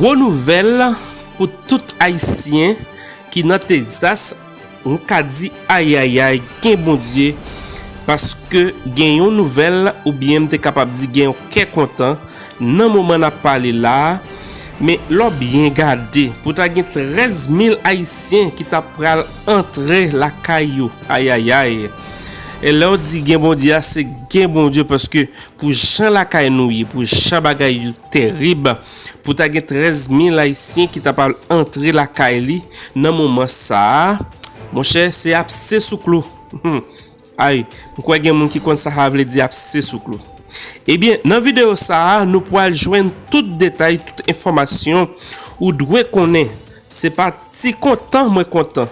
Gwo nouvèl pou tout ayisyen ki nan Texas m ka di ayayay gen Bondye paske gen yon nouvèl oubyen m te kapab di gen yon kè kontan Nan moman n ap pale la a, men lè w byen gade, pou ta gen 13 mil Ayisyen ki ta pral antre lakay yo. Ayayay! E lè w di gen Bondye a, se gen Bondye paske pou jan lakay nou ye, pou jan bagay yo terib, pou ta gen 13 mil Ayisyen ki ta pral antre lakay li nan moman sa a, monchè, se ap se sou klou. Humm ayy m kwè gen moun ki konn sa havle di apse sou klou ebyen nan video sa nou pwal jwenn tout detay tout enfòmasyon ou dwe konnen se pa ti kontan mwen kontan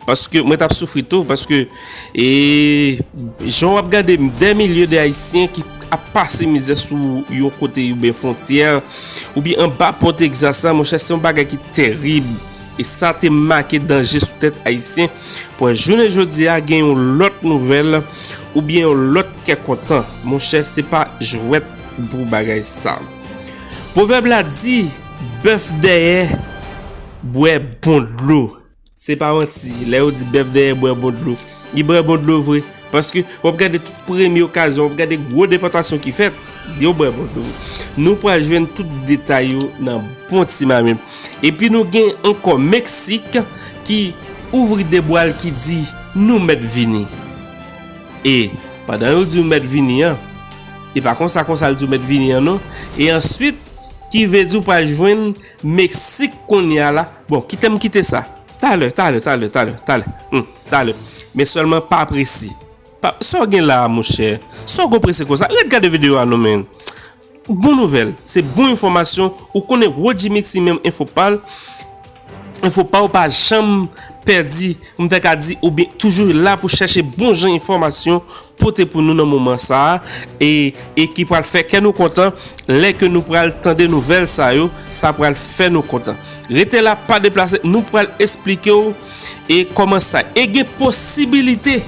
paske mwen tap soufri tou paske ee jan wap gade m dè milye de ayisyen ki ap pase mizè sou yon kote oubyen fontyè oubyen anba pò Texas la monchè se yon bagay ki terib. E sa te make danje sou tèt Ayisyen pou wè jounen jodi a gen yon lòt nouvèl oubyen yon lòt kè kontan. Monchè se pa jwèt pou bagay sa. Pwovèb la di, Bèf dèyè bwè bon dlo. Se pa manti, lè yo di bèf dèyè bwè bon dlo. Li bwè bon dlo vre. Paske wap gade tout premye okazyon, wap gade gwo depòtasyon ki fèt, yo bwè bon dlo. Nou pral jwenn tout detay yo nan bon ti mami. Epi nou gen ankò Meksik ki ouvri de bwa l ki di nou mèt vini. E pandan yo di ou mèt vini an, e pa konsa konsa l di ou mèt vini an non. E answit ki vle di ou pral jwenn Meksik kounye a la. Bon, kite m kite sa. Talè, talè, talè, talè, talè, hum, talè. Men sèlman pa prese. Pa, sa w gen la a monchè? Sa w gon prese konsa? Ret gade videyo a non men. Bon nouvèl, se bon enfòmasyon, ou konnen Roodjy Mixi menm enfo pa l, enfo pa w pa janm pèdi, m ta ka di oubyen toujou la pou chache bon jan enfòmasyon. pote pou nou nan moman sa a e e ki pral fè kè nou kontan lè ke nou pral tande nouvèl sa yo sa pral fè nou kontan rete la pa deplase nou pral esplike w e kòman sa e gen posibilite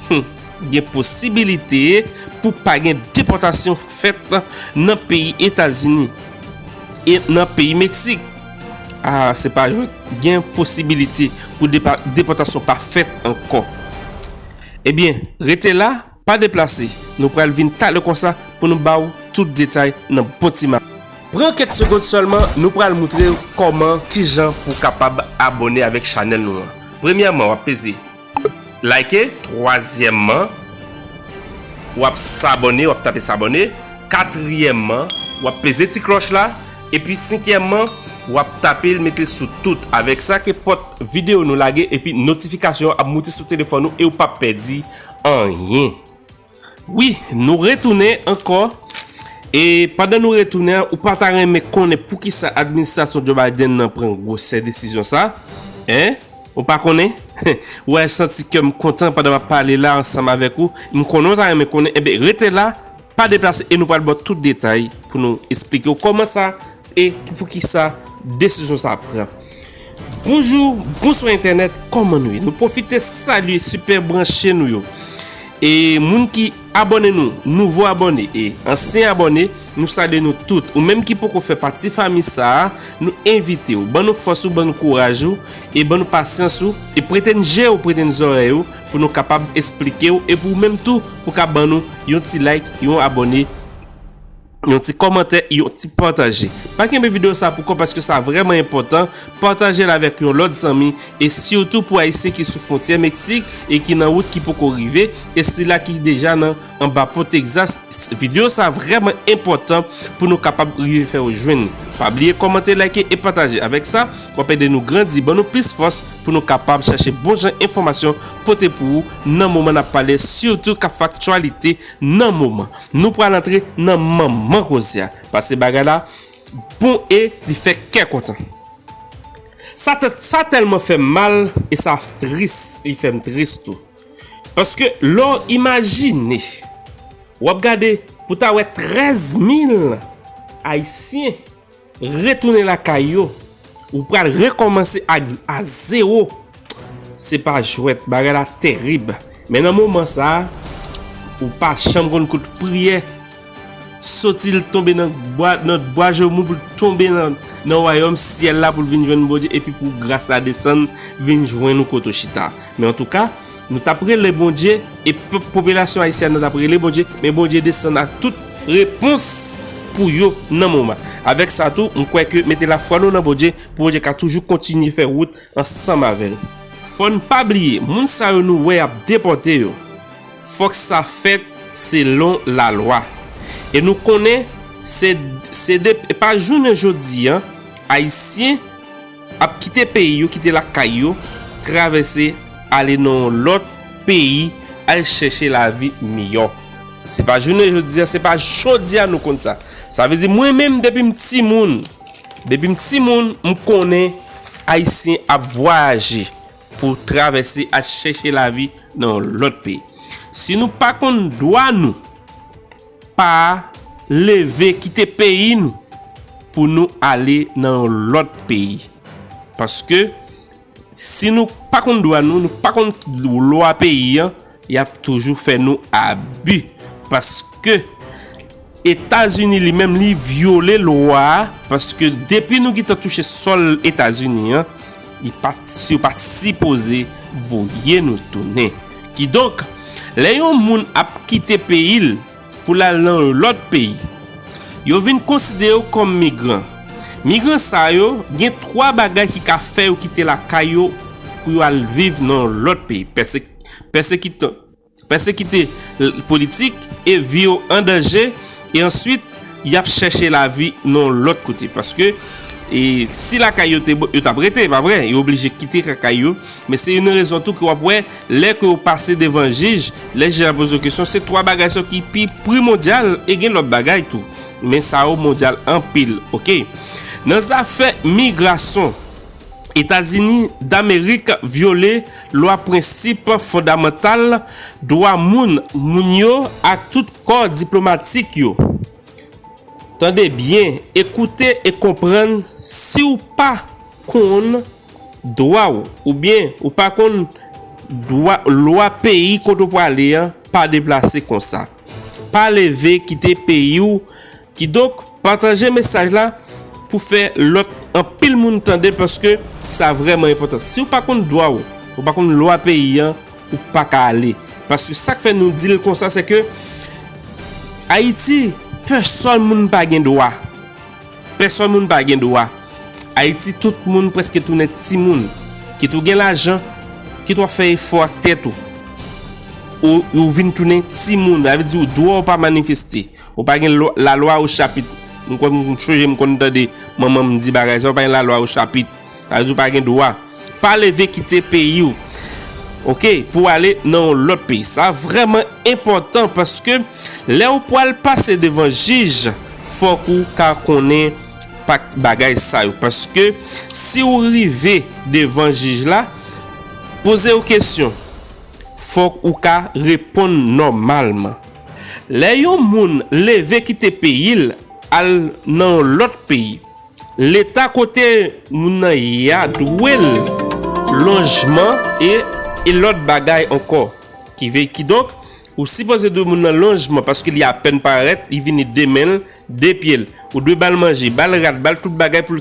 humm gen posibilite pou pa gen depòtasyon fèt nan peyi etazini e nan peyi meksik aa se pa jwèt gen posibilite pou depòtasyon pa fèt ankò. Ebyen, rete la, pa deplase, nou pral vin talè konsa pou nou ba w tout detay nan bon ti maten. Pran kèk segond sèlman, nou pral moutre w kòman, kijan pou w kapab abòne avèk chanèl nou an. Premyèman, w ap peze Like, twazyèman, w ap sabòne, w ap tape sabòne, katriyèman, w ap peze ti klòch la. Epi sinkyèman, w ap tape l mete l sou tout. Avèk sa ke pòt videyo nou lage epi notifikasyon an ap moute sou telefòn ou e w pap pèdi anyen. Wi, nou retounen ankò. E pandan nou retounen an, ou pa ta renmen konnen poukisa administrasyon Joe Biden nan pran gwosè desizyon sa? Hein? Ou pa konnen? Ou wè, santi kè m kontan pandan m ap pale la ansanm avèk ou. M konnen w ta renmen konnen. Enben, rete la! Pa deplase e nou pral baw tout detay pou nou esplikew kòman sa e pou kisa desizyon sa pran. Bonjou, bonswa entènèt, kòman nou ye? Nou pwofite salye sipè branche nou yo e moun ki abòne nou, nouvo abòne e ansyen abòne, nou salye nou tout. Ou menm ki poko fè pati fanmi sa a, nou envitew, ban nou fòs ou, ban nou kouraj ou e ban nou pasyans ou e prete n jew, prete n zòrèy ou. Pou nou kapab esplike w e pou ou menm tou pou ka ban nou yon ti like, yon abone, yon ti komante, yon ti pataje. Pa kenbe video sa pou kò paske sa vreman enpotan, pataje l avek yon lot zanmi e sitou pou ayisyen ki sou fontyè Meksik e ki nan wout ki poko rive e sila ki deja nan. Anba pon Texas Video sa vreman enpotan pou nou kapab rive fè ou jwenn li Pa bliye komante like e pataje avek sa wap ede nou grandi ban nou plis fòs pou nou kapab chache bon jan enfomasyon pote pou ou nan moman nap pale sitou kap fè aktyalite nan moman Nou pral antre nan manman koze a pase bagay la bon e li fè kè kontan Sa tèlman fèm mal e sa tris li fèm tris tou. Paske lè w imajine, w ap gade pou ta wè 13 mil ayisyen retounen lakay yo, ou pral rekòmanse a zewo, se pa jwèt, bagay la terib. Men nan moman sa, ou pa janm konn kote priyè. Soti l tonbe nan bwa Jomou pou l tonbe nan wayòm syèl la pou l vin jwenn Bondye epi pou gras la desann vin jwenn ou kote w chita. Men antouka, nou t ap rele Bondye e pèp popilasyon ayisyèn nan t ap rele Bondye, men Bondye desann ak tout repons pou yo nan moman. Avèk sa tou, m kwè ke mete lafwa nou nan Bondye pou Bondye ka toujou kontinye fè wout ansanm avè n. Fò n pa bliye, moun sa yo nou wè y ap depòte yo. Fòk sa fèt selon lalwa. E nou konnen se se de e pa jounen jodi an ayisyen ap kite peyi yo, kite lakay yo, travèse ale nan yon lòt peyi al chèche lavi miyò. Se pa jounen jodi an, se pa jodi a nou konn sa. Sa vle di mwen menm depi m timoun, depi m timoun m konnen ayisyen ap vwayaje. Pou travèse al chèche lavi nan yon lòt peyi. Si nou pa konn dwa nou, pa leve kite peyi nou pou nou ale nan yon lòt peyi. Paske si nou pa konn dwa nou, nou pa konn lwa peyi an, Yap toujou fè nou abi paske etazini li menm li vyole lwa paske depi nou gitan touche sòl etazini an li pat yo pat sipoze voye nou tounen ki donk lè yon moun ap kite peyi l pou lal nan yon lòt peyi yo vin konside yo kòm migran migran sa yo gen 3 bagay ki ka fè yo kite lakay yo pou yo al viv nan yon lòt peyi pèsek. pèsekite l politik e vi yo an danje e answit yap chèche lavi nan lòt kote paske si lakay yo te bon yo tap rete epa vre yo oblije kite lakay yo men se yon rezon tou ke wap wè lè ke yo pase devan jij lè jij ap poze yo kesyon se 3 bagay sa yo ki pi primodial e gen lòt bagay tou men sa yo mondyal anpil ok nan zafè migrason etazini damerik vyole Lwa prensip fondamantal, dwa moun moun yo ak tout kò diplomatik yo. Tande byen, ekoute e konprann si w pa konn dwa w oubyen ou pa konn dwa lwa peyi kote w prale an pa deplase konsa. Pa leve kite peyi w. Kidonk pataje mesaj la pou fè lòt anpil moun tande paske sa vrèman enpòtan. Si ou pa konn dwa ou, ou pa konn lwa peyi an, ou pa ka ale. Paske sa k fè nou di l konsa se ke Ayiti pèsòn moun pa gen dwa. Pèsòn moun pa gen dwa. Ayiti tout moun prèske tounen ti moun. Kit ou gen lajan, kit w ap fè efò ak tèt ou, ou vin tounen ti moun. Sa vle di ou dwa ou pa manifeste. Ou pa gen la lwa ou chapit. M kwè m chonje m konn tande manman m di bagay sa ou pa gen la lwa ou chapit. Sa vle di ou pa gen dwa. Pa leve kite peyi ou. Ok pou w ale nan yon lòt peyi. Sa vrèman enpòtan paske lè ou pwal pase devan jij fòk ou ka konnen pak bagay sa yo. Paske si ou rive devan jij la poze ou kesyon fòk ou ka reponn nòmalman. Lè yon moun leve kite peyi l al nan yon lòt peyi, Leta kote moun nan ye a dwe l lonjman e e lòt bagay ankò. Ki ve, kidonk, ou sipoze dwe moun nan lonjman paske li apèn parèt, li vini de men l, de pye l. Ou dwe ba l manje, ba l rad, ba l tout bagay pou l,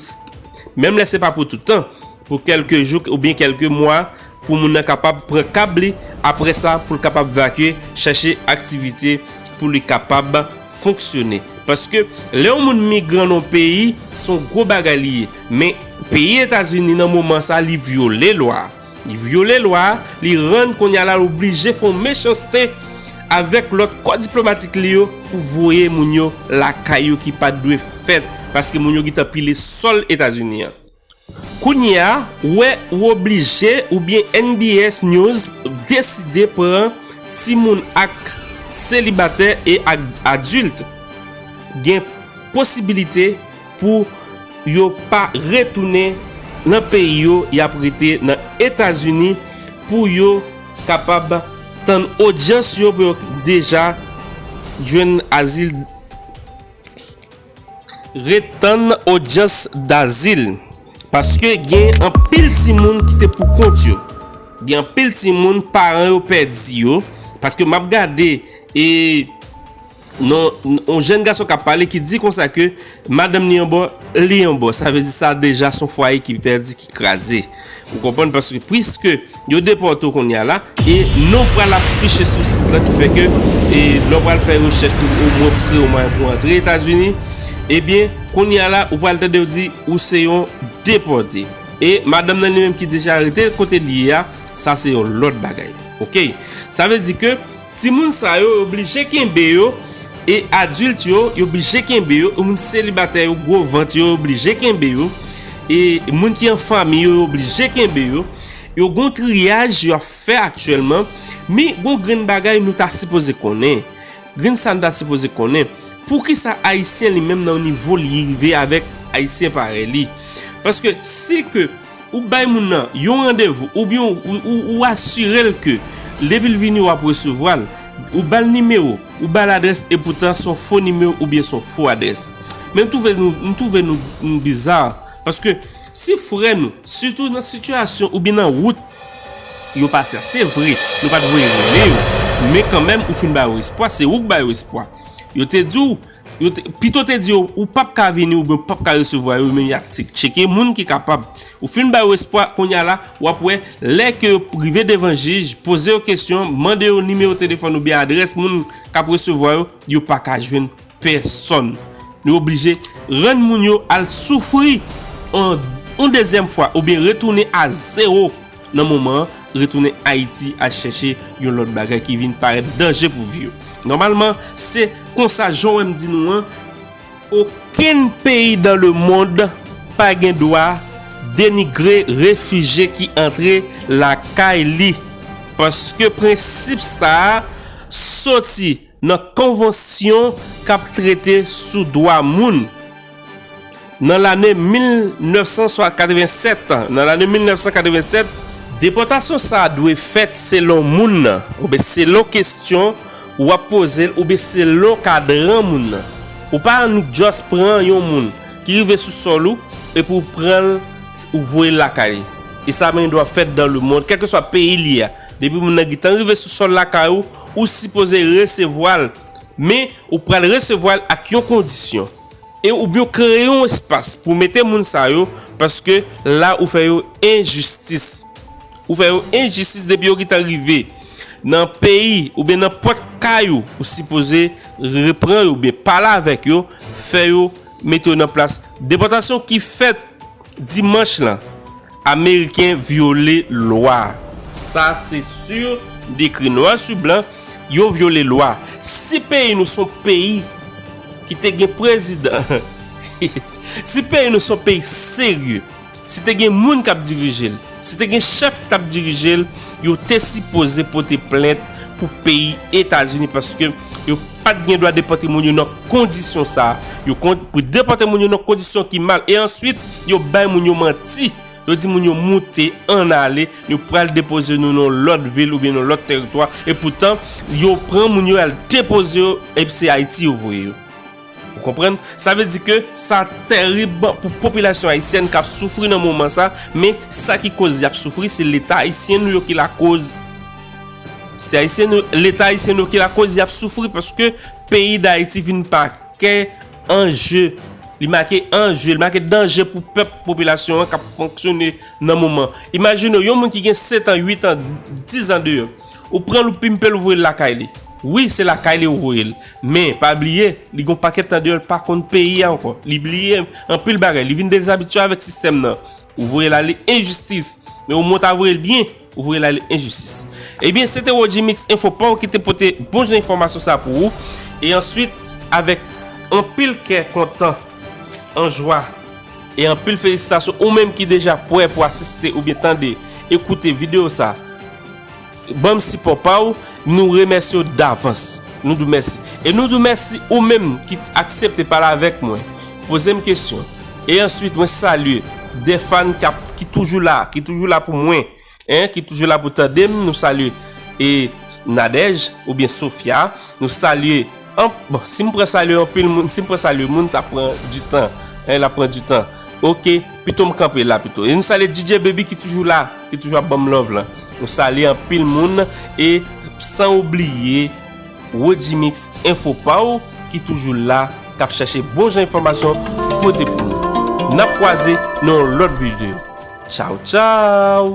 menm lè se pa pou toutan. pou kèlke jou oubyen kèlke mwa pou moun nan kapab pran kab li aprè sa pou l kapab vakye chache aktivite pou li kapab fonksyone paske lè yon moun migran nan yon peyi se yon gwo bagay li ye men peyi etazini nan moman sa li vyole lwa li vyole lwa li rann kounye a la l oblije fè yon mechanste avèk lòt kò diplomatik li yo pou voye moun yo lakay yo ki pat dwe fèt paske moun yo gentan pile sòl etazini an. Kounyea wè ou oblije oubyen NBS news deside pran timoun ak selibatè e ak adilt gen posibilite pou yo pa retounen nan peyi yo yap rete nan etazini pou yo kapab tann odyans yo pou yo deja jwenn azil. Ret tann odyans dazil. Paske gen anpil timoun ki te pou kont yo. Gen anpil timoun paran yo pèdi yo. Paske map gade e non yon jenn gason kap pale ki di konsa ke madanm li yon bò, li yon bò. Sa vle di sa deja son fwaye ki pèdi, ki kraze. Ou konprann paske pwiske. Yo depòte w kounye a la e non w pral afiche sou sit lan ki fè ke lè w pral fè rechèch pou omwen pou kreye yon mwayen pou w antre Etazini ebyen kounye a la ou pral tande yo di ou se yon depòte e madanm nan li menm ki deja rete kote li ye a sa se yon lòt bagay ok sa vle di ke timoun sa yo yo blije kenbe yo e adilt yo yo blije kenbe yo moun selibatè yo gwo vant yo yo blije kenbe yo e moun ki an fanmi yo yo blije kenbe yo. Yo gon triyaj yo ap fè aktyèlman, men gon grenn bagay nou ta sipoze konnen, grenn sa nou ta sipoze konnen, poukisa ayisyen li menm nan nivo li rive avèk ayisyen parèy li, paske si ke ou bay moun nan yon randevou oubyen ou asirel ke depil vini wap resevwa l, ou bal nimewo, ou bal adrès e poutan son fo nimewo oubyen son fo adrès, men m twouve nou bizar. Paske si frè nou, sitou nan sitiyasyon oubyen nan wout yo pase a, se vre nou pa t voye rele yo, men kanmenm ou fin ba yo espwa, se ou k ba yo espwa. Yo te di w, pito w te di yo ou p ap ka vini oubyen ou p ap ka resevwa yo men y ap tcheke moun ki kapab. Ou fin ba yo espwa, kounye a la w ap wè lè ke yo rive devan jij, poze yo kesyon, mande yo nimewo telefòn oubyen adrès moun k ap resevwa yo, yo pa ka jwenn. pèsòn. Nou oblije rann moun yo al soufri yon dezyèm fwa oubyen retounen a zewo nan moman an, retounen Ayiti al chèche yon lòt bagay ki vin parèt danje pou vi yo. Nòmalman, se konsa jan w wè m di nou an, okenn peyi dan le mond pa gen dwa denigre refije ki antre lakay li paske prensip sa a soti Nan konvansyon k ap trete sou dwa moun nan lane 1987, nan lane 1987, depòtasyon sa a dwe fèt selon moun nan oubyen selon kesyon ou ap poze l oubyen selon kadran moun nan. Ou pa annik just pran yon moun ki rive sou sòl ou epi ou pran l ou voye l lakay li. E sa menen dwa fèt dan lemond kèlkeswa peyi li a. Depi moun nan gentan rive sou sòl lakay ou, Ou sipoze resevwa l, men ou pral resevwa l ak yon kondisyon. E ou byn kreye yon espas pou mete moun sa yo paske la ou fè yo enjistis. Ou fè yo enjistis depi yo gentan rive nan peyi oubyen nan pòt kay ou, ou sipoze repran yo oubyen pale avèk yo, fè yo mete yo nan plas depòtasyon ki fèt. Dimanch lan, Ameriken vyole lwa a. Sa se sur, m te ekri nwa su blan, yo vyole lwa. Si peyi nou son peyi ki te gen prezidan, si peyi nou son peyi serye, si te gen moun k ap dirije l, Si te gen chèf ki tap dirije l, yo te sipoze pote plent pou peyi Etazini paske yo pat gen dwa depòte moun yo nan kondisyon sa. Yo kont pou depòte moun yo nan kondisyon ki mal. E answit, yo bay moun yo manti. Yo di moun yo moute, ann ale, nou pral depoze nou nan yon lòt vil oubyen nan yon lòt teritwa. E poutan, yo pran moun yo al depoze yo, ep se Ayiti yo voye yo. Ou konprann? Sa vle di ke sa terib pou popilasyon ayisyèn kap soufri nan moman sa, men sa ki koz yap soufri se leta ayisyen nou yo ki lakoz. Se ayisyen nou, leta ayisyen nou yo ki lakoz yap soufri paske peyi dayiti vin make an je, li make an je, li make danje pou pèp popilasyon an kap fonksyone nan moman. Imajine w yon moun ki gen 7 an, 8 an, 10 an deyò, ou pranl ou pimpe l ou voye l lakay li. Wi se lakay li ou voye l men pa bliye li gon pakèt tan deyò l pa konn peyi a ankò li bliye anpil bagay li vin dezabitye avèk sistèm nan ou voye l ale enjistis men omwen w ta voye l byen ou voye l ale enjistis ebyen se te Wodjimix enfo paw ki te pote bon jan enfòmasyon sa pou ou e answit avèk anpil kè kontan an jwa e anpil felisitasyon ou menm ki deja pwè pou asiste oubyen tande e koute videyo sa. Banm sipò pa w, nou remèsye w davans. Nou di w mèsi. E nou di w mèsi ou menm ki aksepte pale avèk mwen, poze m kesyon. E answit mwen salye 2 fan kap ki toujou la, ki toujou la pou mwen, hein, ki toujou la pou tande m, nou salye e Nadège oubyen Sofia, nou salye. Bon, si m pran salye anpil moun, si m pran salye moun, sa pran di tan. Hein, la pran di tan. Ok, pito m kanpe la pito. E nou salye DJ Baby ki toujou la, ki toujou ap ban m love lan. Nou salye anpil moun e san ou bliye Wodjimix Enfo pa w ki toujou la, k ap chache bon jan enfòmasyon pou pote pou nou. N ap kwaze nan yon lòt videyo. Tchaw tchaw!